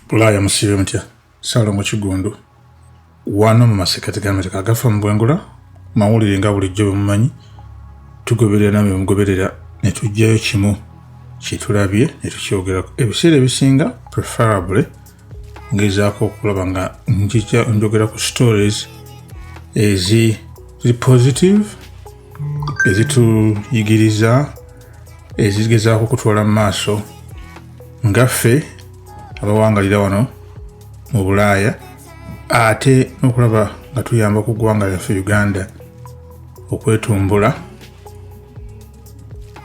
bulaaya musibe mutya salongo kigundu wano mu masekati gamerika agafa mu bwengula mawulire nga bulijjo bwemumanyi tugoberera nawe mugoberera netugjayo kimu kyetulabye netukyogerako ebiseera ebisinga preferably ngezaako okulaba nga njija njogera ku stories ezi ziri positive ezituyigiriza ezigezaako okutwala mu maaso nga ffe abawangalira wano mu bulaaya ate n'okulaba nga tuyamba ku ggwanga lyaffe uganda okwetumbula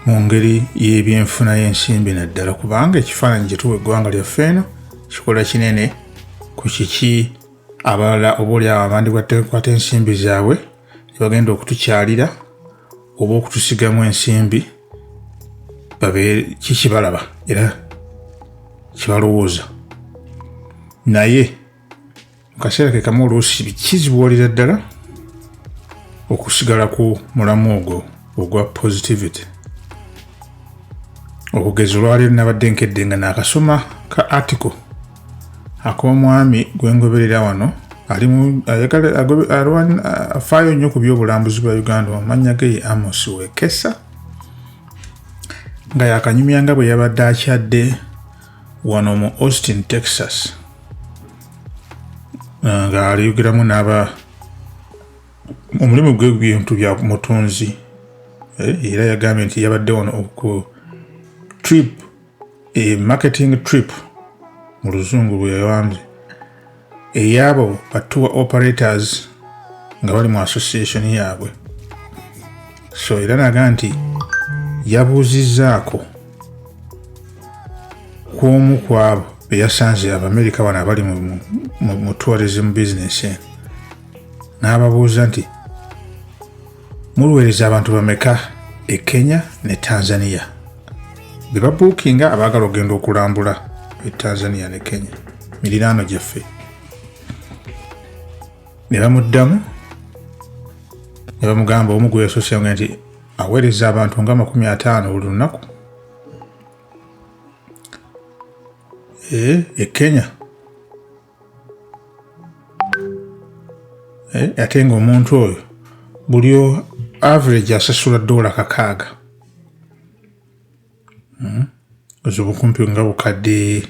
mu ngeri y'ebyenfuna y'ensimbi naddala kubanga ekifaananyi kyetuwa eggwanga lyaffe eno kikola kinene ku kiki abalala oba oli awo abandi batekwata ensimbi zaabwe tebagenda okutukyalira oba okutusigamu ensimbi kikibalaba era kibalowooza naye mukaseera kekamu oluusi kizibuwalira ddala okusigala ku mulamu ogwo ogwa positivity okugeza olwaleero nabadde nkedde nga nakasoma ka article ak'omwami gwe ngoberera wano ali mu ayagala afaayo nnyo ku by'obulambuzi bwa uganda amannya ge ye amos wekesa nga yakanyumya nga bwe yabadde akyadde wano mu austin texas nga aliyogeramu n'aba omulimu gwe bintu bya mutunzi eh, era yagambye nti yabadde wano oku trip e marketing trip mu luzungu lweyawambye eyabo ba tour operators nga bali mu association yaabwe so era naga nti yabuuzizaako ku omu ku abo beyasanze abamerika bano abali mu tourism business eno n'ababuuza nti muluweereza abantu bameka e kenya ne tanzania be babuukinga abaagala okugenda okulambula e tanzania ne kenya miriraano gyaffe ne bamuddamu ne bamugamba omu gwe yasosenga nti aweereza abantu nga makumi ataano buli lunaku e, e kenya eh, ate nga omuntu oyo buli average asasula dola kakaaga hmm? ozi obukumpi nga bukadde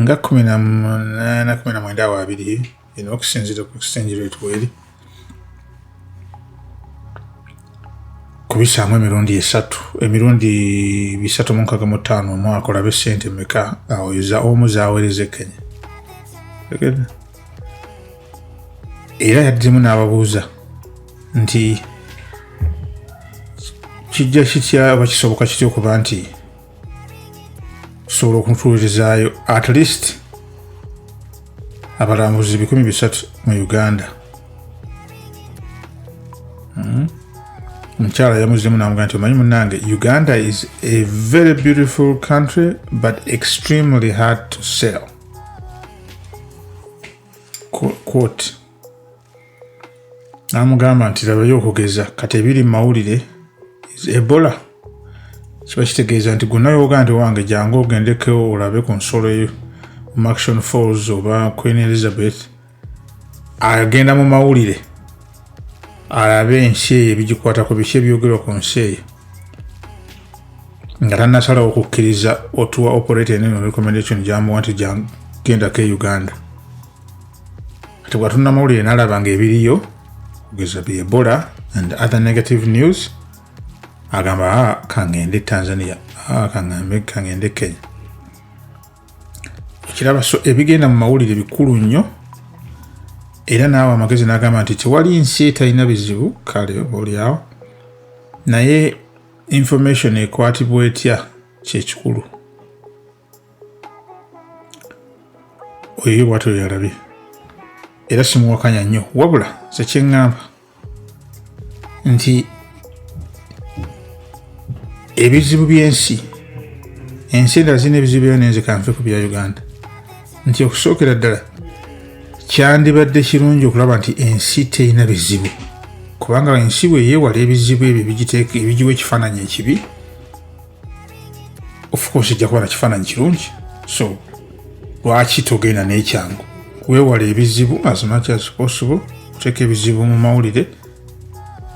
nga kumi na munaana kumi na mwenda awo abiri eno okusinzira ku exchange rate weeri kubisaamu emirundi esatu emirundi bisatu munkaga mu ttaano omwaka olabe sente meka awoyoza omu zawereze kenya era yaddemu n'ababuuza nti kijja kitya oba kisoboka kitya okuba nti tusobola okuntuulirizaayo at least abalambuzi bikumi bisatu mu uganda hmm? omukyala mm. yamuzemu namuga nti omanyi munange uganda is a very beautiful country but extremely hard to sell quote n'amugamba nti labayo okugeza kati ebiri mu mawulire ebola kiba kitegeeza nti gonna yoga nti wange jangu ogendeko olabe ku nsolo eyo maction falls oba queen elizabeth agenda mu mawulire alabe ensi eyo ebigikwatako biki ebyogerwa ku nsi eyo nga tanasalawo okukkiriza otuwa operator eno recommendation gyamuwa nti genda ke uganda kati bwatunna mawulire nalaba nga ebiriyo kugeza bye ebola and other negative news agamba ah, kangende tanzania ah, kangambe kangende kenya okiraba so ebigenda mu mawulire bikulu nnyo era naawe amagezi nagamba nti tewali nsi etalina bizibu kale olyawo naye information ekwatibwa etya kyekikulu oyo bwatyo yalabi era simuwakanya nnyo wabula sekyeŋŋamba nti ebizibu by'ensi ensi endala zirina ebizibu byayo nenzikanfe ku bya uganda nti okusookera ddala kyandibadde kirungi okulaba nti ensi terina bizibu kubanga ensi bwe yeewala ebizibu ebyo ebigiwa ekifaananyi ekibi of course ejja kuba na kifaananyi kirungi so lwaki togenda n'ekyangu weewala ebizibu as much as possible oteeka ebizibu mu mawulire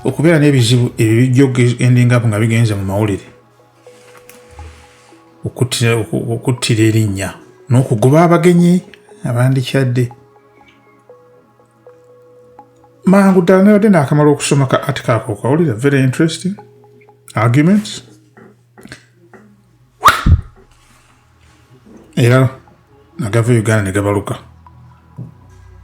okubeera n'ebizibu ebyo bijja okugendingapo nga bigenze mu mawulire okuttira erinnya n'okugoba abagenyi abandikyadde mangu ddala nabadde naakamala okusoma ka atika ako okawulira very interesting arguments era nagava uganda ne gabaluka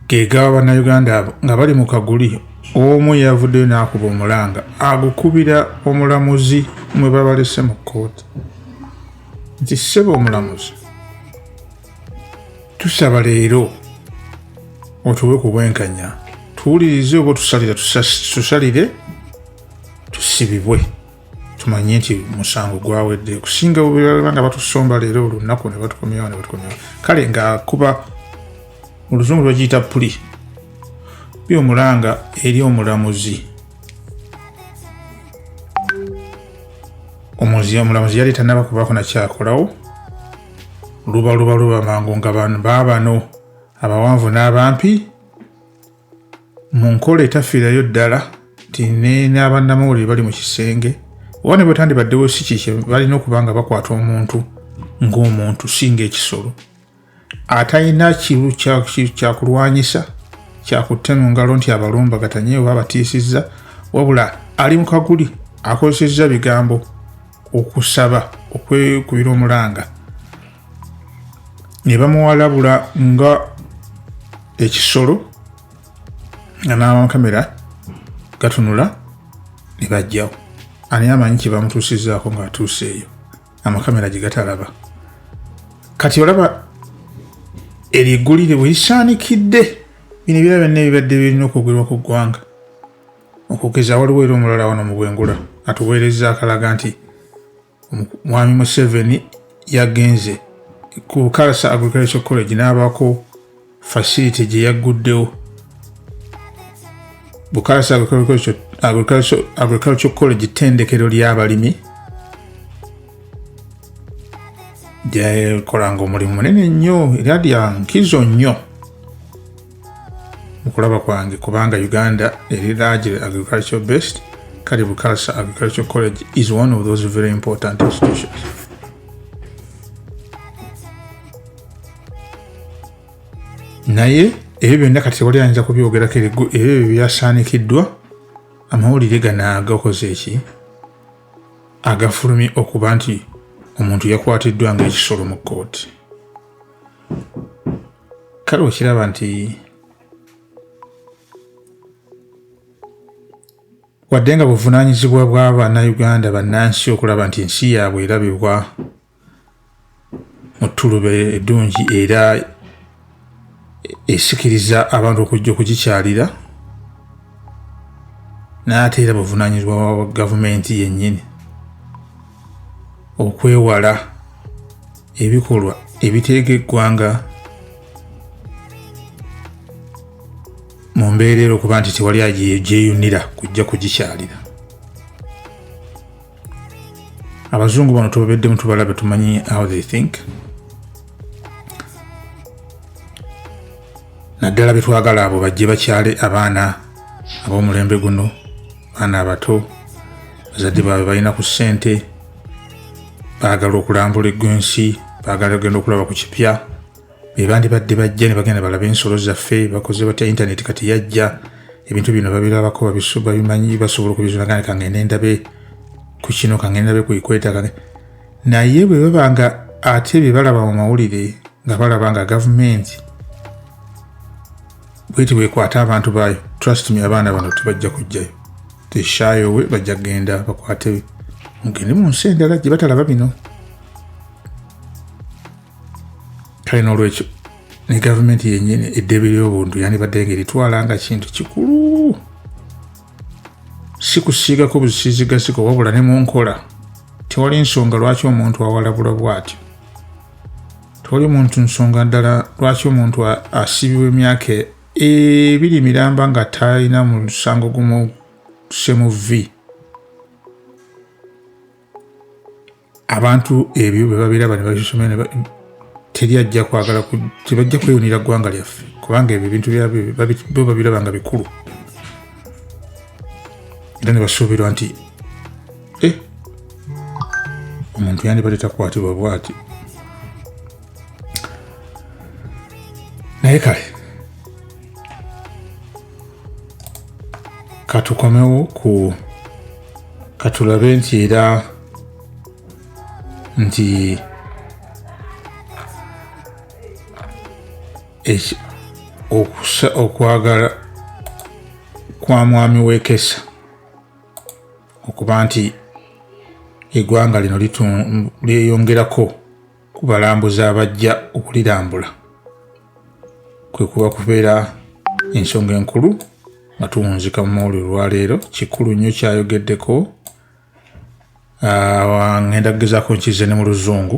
gegaba bannayuganda abo nga bali mu kaguli omu yavuddeyo n'akuba omulanga agukubira omulamuzi mwe babalese mu kkooti nti ssebo omulamuzi tusaba leero otuwe ku bwenkanya tuwulirize oba tusalira tusalire tusibibwe tumanye nti musango gwawedde okusinga bwebalaba nga batusomba leero olunaku nebatukomyawo nebatukomyawo kale nga kuba mu luzungu lwagiyita puli bi omulanga eri omulamuzi omuzi omulamuzi yali tanaba kubako nakyakolawo luba luba luba mangu nga baabano abawanvu n'abampi mu nkola etafiirayo ddala nti n'abannamawulire bali mu kisenge oba ne bwetandibaddewo si kikye balina okuba nga bakwata omuntu ng'omuntu singa ekisolo atalina kiru kyakulwanyisa kyakutte mu ngalo nti abalumbagatanye oba abatiisizza wabula ali mu kaguli akozesezza bigambo okusaba okwekubira omulanga ne bamuwalabula nga ekisolo nga n'amakamera gatunula ne bajjawo ani amanyi kye bamutuusizaako ng'atuuse eyo amakamera gye gatalaba kati olaba eryo eggulire bwe lisaanikidde bino ebirala byonna ebibadde birina okwogerwa ku ggwanga Okugeza waliwo era omulala wano mu bwengula atuweereza akalaga nti mwami Museveni yagenze ku Kalasa Agricultural College n'abaako facility gye yagguddewo Bukalasa Agricultural College ttendekero ly'abalimi gyekolanga omulimu munene nnyo era lya nkizo nnyo okulaba kwange kubanga uganda eri largely agricultural based kale bukalsa agricultural college is one of those very important institutions naye ebyo byonna kati tewali ayinza kubyogerako ebyo ebyo byasaanikiddwa amawulire ganaaga okoze eki agafulumye okuba nti omuntu yakwatiddwa ngaekisolo mu kkooti kale okiraba nti wadde nga buvunaanyizibwa bw'abannayuganda bannansi okulaba nti ensi yaabwe erabibwa mu ttulube eddungi era esikiriza abantu okujja okugikyalira n'ate era buvunaanyizibwa bwa gavumenti yennyini okwewala ebikolwa ebiteega eggwanga mu mbeera era okuba nti tewali agyeyunira kujja kugikyalira abazungu bano tubabeddemu tubalabe tumanyi how they think naddala betwagala abo bajje bakyale abaana ab'omulembe guno baana abato bazadde baabwe balina ku ssente baagala okulambula eggwensi baagala ogenda okulaba ku kipya bebandibadde bajja ne bagenda balaba ensolo zaffe bakoze batya intaneti kati yajja ebintu bino babirabako babimanyi basobola okubizula gane kangende ndabe ku kino kangende ndabe kuikweta kange naye bwe baba nga ate bye balaba mu mawulire nga balaba nga gavumenti bweti bwekwata abantu baayo trust me abaana bano tebajja kujjayo teshayo we bajja kugenda bakwate mugende mu nsi endala gye batalaba bino kale n'olwekyo ne gavumenti yennyini eddebe ly'obuntu yandibadde nga eritwala nga kintu kikulu si kusiigako busiizigasiko wabula ne mu nkola tewali nsonga lwaki omuntu awalabula bw'atyo toli muntu nsonga ddala lwaki omuntu asiibibwa emyaka ebiri miramba nga talina mu lusango gumusemu v abantu ebyo bwe babeera bani babisomere teri ajja kwagala tebajja kweyunira ggwanga lyaffe kubanga ebyo ebintu bo babiraba nga bikulu era ne basuubirwa nti eh. omuntu yandibadde takwatibwa bwati naye kale katukomewo ku katulabe nti era nti okwagala kwa mwami wekesa okuba nti egwanga lino lyeyongerako ku balambuzi abajja okulirambula kwe kuba kubeera ensonga enkulu nga tuwunzika mu mawulire olwaleero kikulu nnyo kyayogeddeko ngenda kugezako nkize ne mu luzungu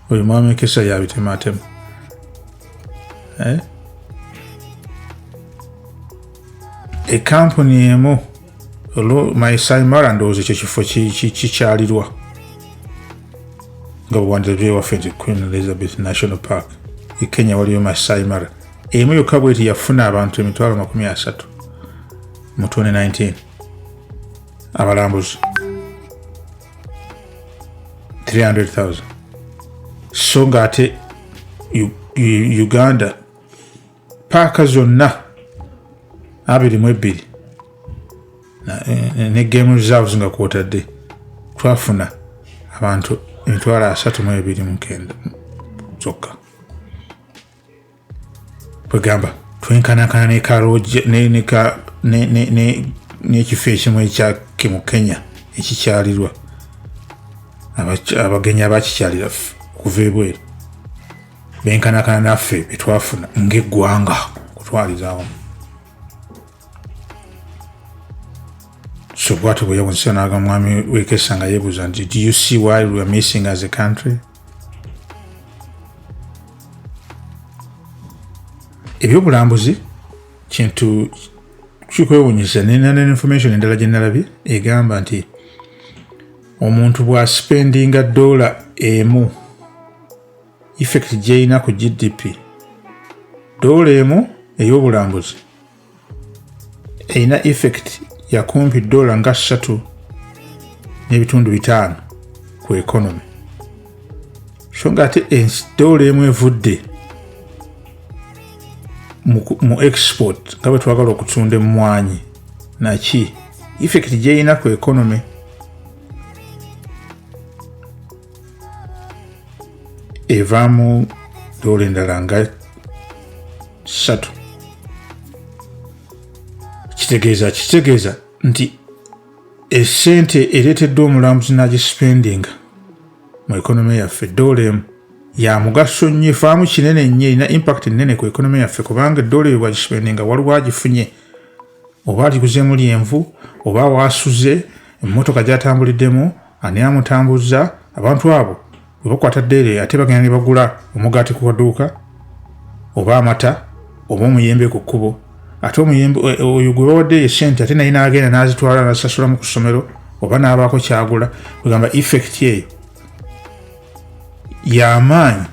oyo mwami kesha yabitematema eh? ekampuni emu olwo maisaimara ndowooza ekyo kifo kikyalirwa nga bwewandirabyewaffe nti queen elizabeth national park e kenya waliyo maisaimara emu yokka bweti yafuna abantu emitwalo makumi asatu mu 2019 abalambuzi 300,000 so nga ate uganda paaka zonna abiri mu ebbiri ne game reserves nga kwotadde twafuna abantu emitwalo asatu mu ebiri mukenda zokka kwegamba twenkanakana n'ekifo ekimu ekyake mu kenya ekikyalirwa abagenyi abakikyalira okuva ebweru benkanakana naffe betwafuna ngaeggwanga kutwalirawo so bwatyo bweyawunzisa naga mwami wekesa nga yebuuza nti do you see why we are missing as a country ebyobulambuzi kintu kikwewunyisa nenana information endala gyenalabye egamba nti omuntu bwasipendinga dola emu effect gyeyina ku gdp dola emu ey'obulambuzi erina effect yakumpi dola nga ssatu n'ebitundu bitaano ku economy so nga ate ensi dola emu evudde mu export nga bwe twagala okutunda emmwanyi naki effect gyerina ku economy evaamu dola endala nga ssatu kitegeeza kitegeeza nti esente ereeteddwa omulambuzi n'agisipendinga mu ekonome yaffe dola emu ya mugaso nnyo efaamu kinene nnyo erina impact nnene ku ekonome yaffe kubanga eddoola ebyo bwagisibende nga waliwo agifunye oba aliguzeemu lyenvu oba waasuze emmotoka gyatambuliddemu ani amutambuzza abantu abo webakwata ddeere ate bagenda ne bagula omugaati ku kaduuka oba amata oba omuyembe ku kkubo ate omuyembe e, e, oyo gwe bawadde ye sente ate naye n'agenda n'azitwala n'azisasulamu ku ssomero oba n'abaako kyagula kwegamba effect eyo y'amaanyi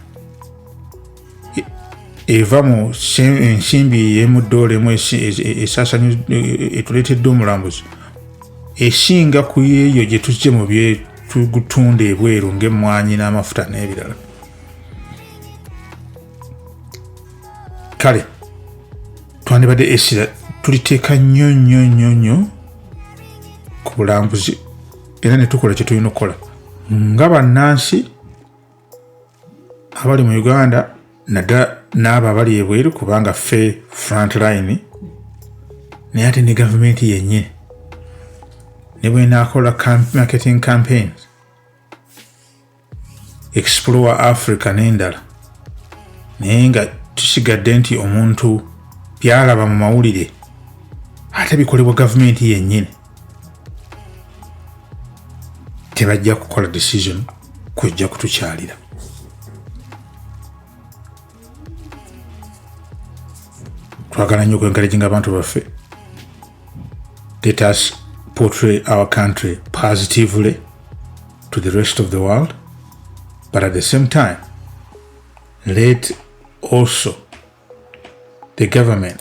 eva mu ensimbi yemudoola emu esasanya etuleetedde omulambuzi esinga ku yeeyo gye tujje mu byetugutunda ebweru ng'emmwanyi n'amafuta n'ebirala kale twandibadde esira tuliteeka nnyo nnyo nnyo nnyo ku bulambuzi era ne tukola kye tulina okukola nga bannansi abali mu uganda naddala n'abo abali ebweru kubanga ffe front line naye ate ne gavumenti yennyini ne bwenaakola marketing campaigns explore africa n'endala naye nga tusigadde nti omuntu byalaba mu mawulire ate bikolebwa gavumenti yennyini tebajja kukola decision kujja kutukyalira twagala nnyo okwenkalejinga abantu baffe let us portray our country positively to the rest of the world but at the same time let also the government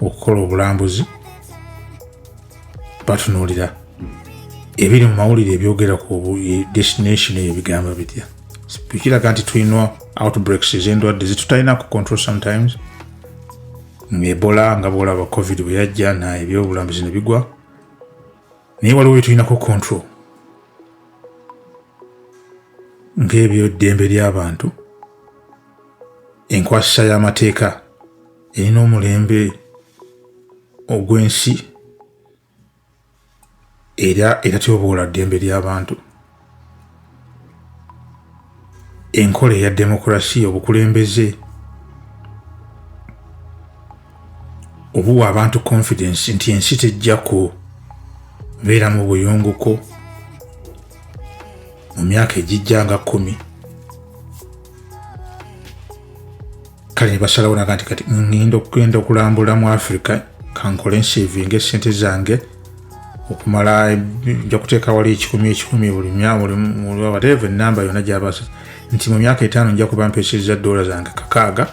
okukola obulambuzi batunuulira ebiri mu mawulire ebyogera ku destination eyo bigamba bitya kiraga nti tulina outbreaks ezendwadde zitutalina ku control sometimes ngaebola nga bwolaba covid bwe yajja na ebyobulambuzi ne bigwa naye waliwo byetulinako control ng'ebyo ddembe ly'abantu enkwasisa y'amateeka erina omulembe ogw'ensi era etatyoboola ddembe ly'abantu enkola eya demokurasiya obukulembeze obuwa abantu confidence nti ensi tejja kubeera mu buyunguko mu myaka egijja nga kkumi kale nebasalawo naga nti kati ngenda okugenda okulambula mu africa kankole nsivinga esente zange okumala nja kuteeka wali ekikumi ekikumi buli myabulwabateeva enamba yona gyabasa nti mu myaka etaano nja kuba mpeseza dola zange kakaaga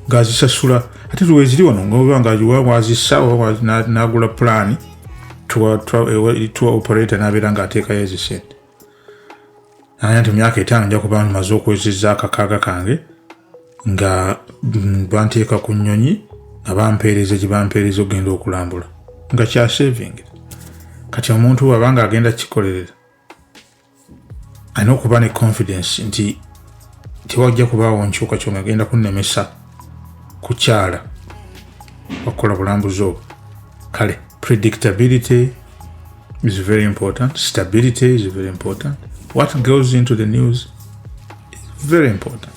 ngazisasula ate lweziri wano ngoba nga wa wazisa nagula pulaani tuwa operator nabeera ngaateekayo ezisente naye nti myaka etaano nja kuba maze okwezeza akakaaga kange nga mm, banteeka ku nnyonyi nga bampeereza gye bampeereza okugenda okulambula nga kyasevingi kati omuntu waba nga agenda kikolerera alina okuba ne confidence nti tewajja kubaawo nkyukakyuka agenda kunnemesa kukyala okukola bulambuzi obwo kale predictability is very important. Stability is very important. What goes into the news is very important.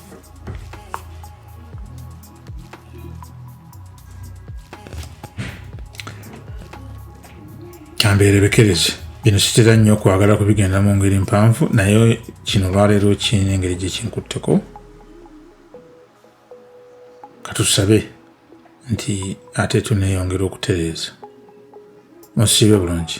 kambeerebekereze bino sitera nnyo okwagala kubigenda mu ngeri mpanvu naye kino olwaleero kirina engeri gye kinkutteko katusabe nti ate tuneyongera okutereeza musiibe bulungi